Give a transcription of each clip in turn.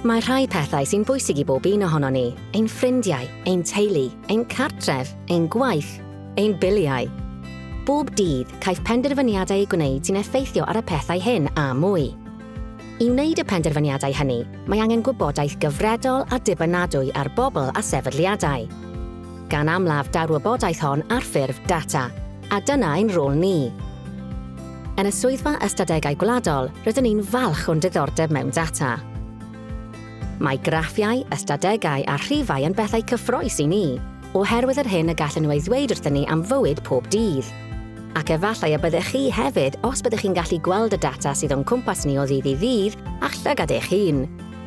Mae rhai pethau sy'n bwysig i bob un ohono ni, ein ffrindiau, ein teulu, ein cartref, ein gwaith, ein biliau. Bob dydd, caiff penderfyniadau ei gwneud sy'n effeithio ar y pethau hyn a mwy. I wneud y penderfyniadau hynny, mae angen gwybodaeth gyfredol a dibynadwy ar bobl a sefydliadau. Gan amlaf daw'r wybodaeth hon ar ffurf data, A dyna ein rôl ni. Yn y Swyddfa Ystadegau Gwladol, rydyn ni'n falch o'n diddordeb mewn data. Mae graffiau, ystadegau a rhifau yn bethau cyffrous i ni, oherwydd yr hyn y gallen nhw ei ddweud wrthyn ni am fywyd pob dydd. Ac efallai y byddech chi hefyd os byddech chi'n gallu gweld y data sydd o'n cwmpas ni o ddydd i ddydd â'ch llygad eich hun.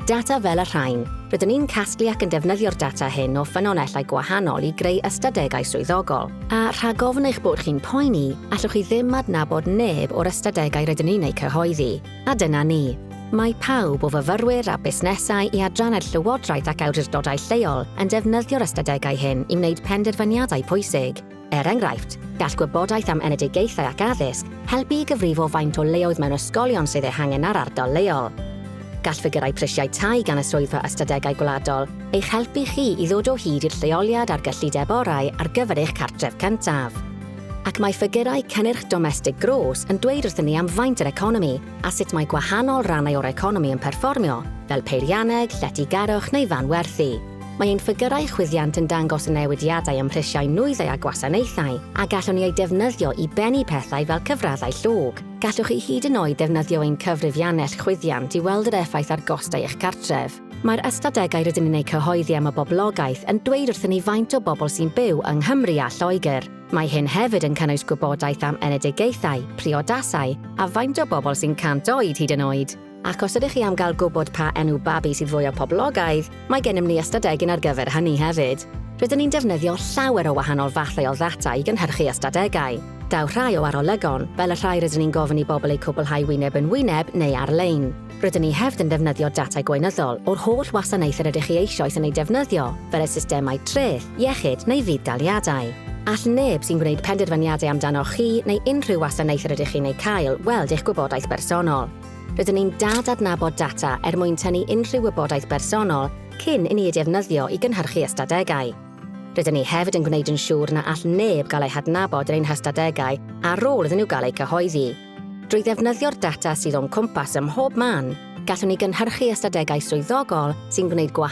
Data fel y rhain. Rydyn ni'n casglu ac yn defnyddio'r data hyn o ffynonellau gwahanol i greu ystadegau swyddogol. A rhag ofn eich bod chi'n poeni, allwch chi ddim adnabod neb o'r ystadegau rydyn ni'n eu cyhoeddi. A dyna ni. Mae pawb, o fyfyrwyr a busnesau i adrannau llywodraeth ac awdurdodau lleol, yn defnyddio'r ystadegau hyn i wneud penderfyniadau pwysig. Er enghraifft, gall gwybodaeth am enedigaethau ac addysg helpu i gyfrifo faint o leoedd mewn ysgolion sydd eu hangen ar ardal leol. Gall ffigyrau prisiau tai gan y Swyddfa Ystadegau Gwladol eich helpu chi i ddod o hyd i'r lleoliad a'r gyllideb orau ar gyfer eich cartref cyntaf. Ac mae ffigyrau cynnyrch domestig gros yn dweud wrthyn ni am faint yr economi a sut mae gwahanol rannau o'r economi yn perfformio, fel peirianneg, lletygarwch neu fanwerthu. Mae ein ffigyrau chwyddiant yn dangos y newidiadau ym mhrisiau nwyddau a gwasanaethau, a gallwn ni eu defnyddio i bennu pethau fel cyfraddau llog. Gallwch chi hyd yn oed ddefnyddio ein cyfrifiannell chwyddiant i weld yr effaith ar gostau eich cartref. Mae'r ystadegau rydyn ni'n eu cyhoeddi am y boblogaeth yn dweud wrthyn ni faint o bobl sy'n byw yng Nghymru a Lloegr. Mae hyn hefyd yn cynnwys gwybodaeth am enedigaethau, priodasau, a faint o bobl sy'n 100 oed hyd yn oed. Ac os ydych chi am gael gwybod pa enw babi sydd fwya poblogaidd, mae gennym ni ystadegyn ar gyfer hynny hefyd. Rydyn ni'n defnyddio llawer o wahanol fathau o ddata i gynhyrchu ystadegau. Daw rhai o arolygon, fel y rhai rydyn ni'n gofyn i bobl eu cwblhau wyneb yn wyneb neu ar-lein. Rydyn ni hefyd yn defnyddio data gweinyddol o'r holl wasanaeth yr ydych chi eisioes yn eu defnyddio, fel y systemau treth, iechyd neu fudd-daliadau. All neb sy'n gwneud penderfyniadau amdanoch chi neu unrhyw wasanaeth yr ydych chi'n ei cael weld eich gwybodaeth bersonol. Rydyn ni'n dad-adnabod data er mwyn tynnu unrhyw wybodaeth bersonol cyn inni ei defnyddio i gynhyrchu ystadegau. Rydyn ni hefyd yn gwneud yn siŵr na all neb gael eu hadnabod yn ein hystadegau ar ôl iddyn nhw gael eu cyhoeddi. Drwy ddefnyddio'r data sydd o'n cwmpas ym mhob man, gallwn ni gynhyrchu ystadegau swyddogol sy'n gwneud gwahanol